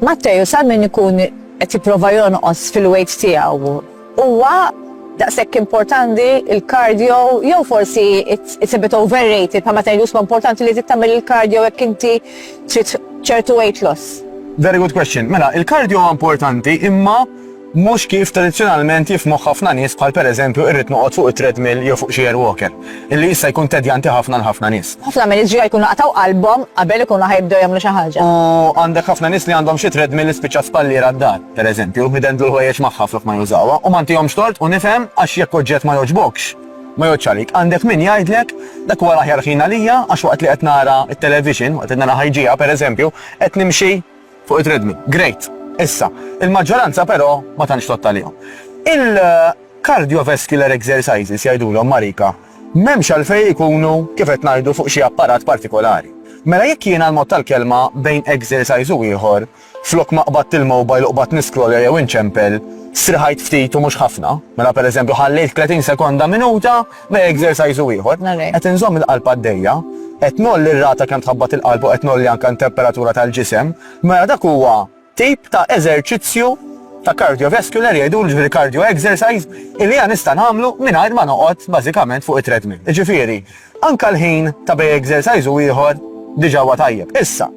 Matteu sar minn ikun qed jipprova jonqos fil-weight tiegħu. Huwa daqshekk importanti l-cardio jew forsi it's a bit overrated bħal meta jgħidu huwa importanti li trid tagħmel il-cardio jekk inti trid ċertu weight loss? Very good question. Mela, il-cardio huwa importanti imma Mhux kif tradizzjonalment jifhmuh ħafna nies bħal pereżempju irrid noqgħod fuq it-treadmill jew fuq xi airwalker, illi jista' jkun tedjanti ħafna għal ħafna nies. Ħafna mill-iġrieħa jkunu qatgħu qalbhom qabel ikunu ħa jibdew jagħmlu xi ħaġa. U għandek ħafna nies li għandhom xi treadmill li spiċċa spalliera d-dar, pereżempju, idendlu l-ħwejjeġ magħha flok ma jużawha, u ma ntihomx tort u nifhem għax jekk oġġett ma jogħġbokx, ma jgħoddx għalik. Għandek min jgħidlek, dak huwa l-aħjar ħin għalija għax waqt li qed nara t-television, waqt li nara ħajġieha pereżempju, qed nimxi Fuq it-tredmi. Great. Issa, il-maġġoranza però ma tantx tgħodd għalihom. Il-cardiovascular exercises jgħidulhom Marika, m'hemmx għalfejn ikunu, kif qed ngħidu, fuq xi apparat partikolari. Mela jekk jiena l-mod tal-kelma bejn exercise u ieħor, flok ma qbadt il-mobile u qbadt niskrollja jew inċempel, strieħajt ftit u mhux ħafna, mela pereżempju ħallejt 30 sekonda, minuta, B'exercise ieħor, qed inżomm il-qalb għaddejja, qed ngħolli r-rata kemm tħabbat il-qalb u qed ngħolli anke n-temperatura tal-ġisem, mela dak huwa tip ta' eżerċizzju ta' cardiovascular jgħidulu, jiġifieri cardio exercise, illi jiena nista' nagħmlu mingħajr ma noqgħod bażikament fuq it-treadmill. Jiġifieri, anke l-ħin ta' bejn exercise u ieħor diġà huwa tajjeb. Issa,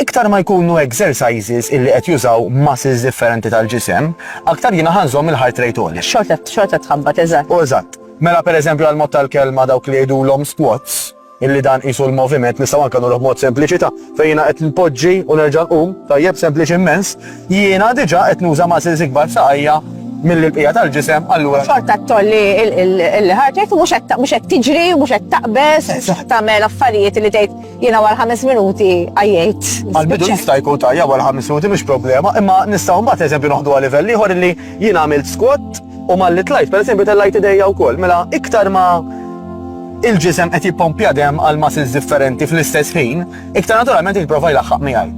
Iktar ma jkunu exercises illi qed jużaw muscles differenti tal-ġisem, aktar jiena ħa nżomm il-heart rate għoli. Xorta, xorta tħabbat, eżatt. Eżatt. Mela per eżempju għal mod tal-kelma dawk li jgħidulhom squats, illi dan qisu l-moviment, nistgħu anke nagħmluh b'mod sempliċi ta' fejn jiena qed npoġġi u nerġa' nqum, tajjeb, sempliċi immens, jiena diġà qed nuża muscles ikbar f'saqajja milli l-bqija tal-ġisem, allura. Xorta tolli il-heart rate u mhux qed tiġri, mhux qed taqbeż, tagħmel affarijiet li tgħid. Jiena għal ħames minuti għajjajt. Għal-bidu jista' jkun tajja għal ħames minuti mhux problema, imma nistgħu mbagħad eżempju noħdu għal livell ieħor li jien għamilt squat u malli tlajt, per eżempju tellajt idejja wkoll, mela iktar ma il-ġisem qed jippompja dem għal muscles differenti fl-istess ħin, iktar naturalment jipprova jlaħħaq miegħi.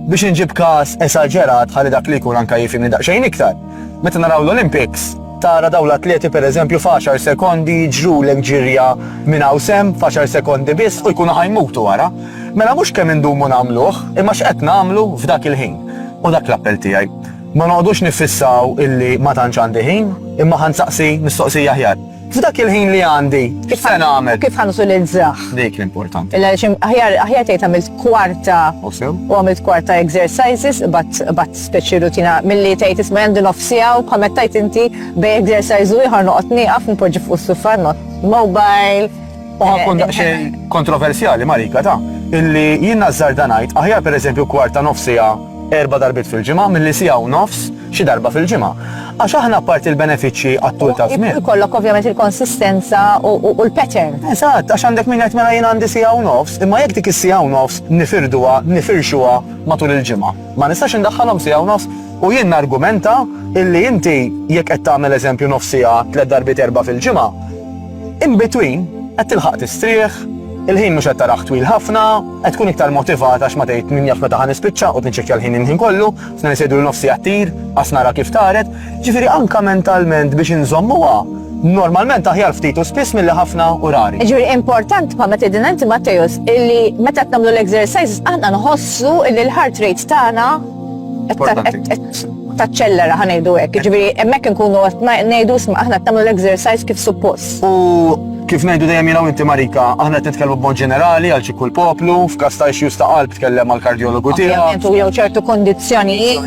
Biex inġib każ esaġerat ħalli dak li jkun anka jifimni daqsxejn iktar. Meta naraw l-Olympics, tara dawn l-atleti pereżempju f'għaxar sekondi jiġrulek ġirja minn hawn s'hemm f'għaxar sekondi biss u jkunu ħa jmutu wara. Mela mhux kemm indumu nagħmluh, imma x'qed nagħmlu f'dak il-ħin. U dak l-appell tiegħi. Ma noqogħdux niffissaw illi ma tantx għandi ħin, imma ħa nsaqsi mistoqsija aħjar. F'dak il-ħin li għandi, kif se nagħmel? Kif ħan utilizzah? Dik l-importanti. Illa xim aħjar aħjar tgħid għamilt kwarta u għamilt kwarta exercises bat bat speċi rutina milli tgħid isma' għandi nofsija u bħal meta inti bej exercise u ieħor noqgħod nieqaf nipoġġi fuq is-sufa not mobile U ħakkun daqsxejn kontroversjali, Marika, ta' illi jien nażżarda ngħid aħjar pereżempju kwarta nofs siegħa erba' darbiet fil-ġimgħa milli siegħa u nofs xi darba fil-ġimgħa. Għax aħna apparti l-benefiċċji għat-tul ta' żmien. Ikollok ovvjament il-konsistenza u l-pattern. Eżatt, għax għandek min jgħid mela jien għandi siegħa u nofs, imma jekk dik is-siegħa u nofs nifirduha, nifirxuha matul il-ġimgħa. Ma nistax indaħħalhom siegħa u nofs u jien nargumenta illi inti jekk qed tagħmel eżempju nofs siegħa tliet darbiet erba' fil-ġimgħa, In between, qed tilħaq tistrieħ, il-ħin mhux qed tarah twil ħafna, qed tkun iktar motivat għax ma tgħid min jaf meta ħa nispiċċa, qgħod niċċekkja l-ħin il-ħin kollu, f'na nisejdu lil nofsi qed tir, qas nara kif taret, ġifieri anke mentalment biex inżommuha normalment aħjar ftit u spiss milli ħafna u rari. Ġuri important pa meta din inti Mattejus illi meta qed nagħmlu l-exercises aħna nħossu illi l-heart rate tagħna taċċellera ħanejdu hekk. Ġifieri hemmhekk inkunu qed ngħidu sma' aħna tagħmlu l-exercise kif suppost. U kif ngħidu dejjem jiena inti Marika, aħna qed nitkellmu b'mod ġenerali għal xi kull poplu, f'każ ta' issues ta' qalb tkellem għal kardjologu tiegħek. Jew ċertu kondizzjonijiet.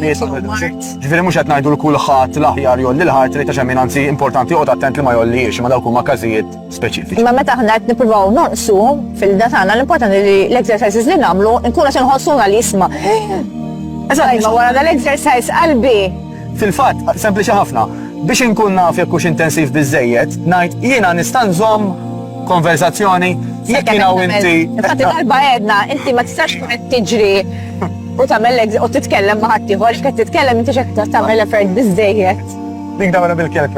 Ġifieri mhux qed ngħidu l kulħadd l-aħjar jolli l-ħart li ta' xemmin anzi importanti qod attent li ma jolliex ma dawk huma każijiet speċifiċi. Imma meta aħna qed nippruvaw nonqsu fil-da tagħna l-importanti li l-exercises li nagħmlu nkunu qed inħossuna li jisma'. Eżatt, ma wara dal-exercise qalbi. Fil-fatt, sempliċi ħafna, biex inkun naf jekk hux intensiv biżejjed, ngħid jiena nista' nżomm konversazzjoni jekk jiena u inti. Infatti darba għedna, inti ma tistax tkun qed tiġri u tagħmel u titkellem ma' ħaddieħor, qed titkellem inti x'qed tagħmel effort biżejjed. Dik dawra bil-kelb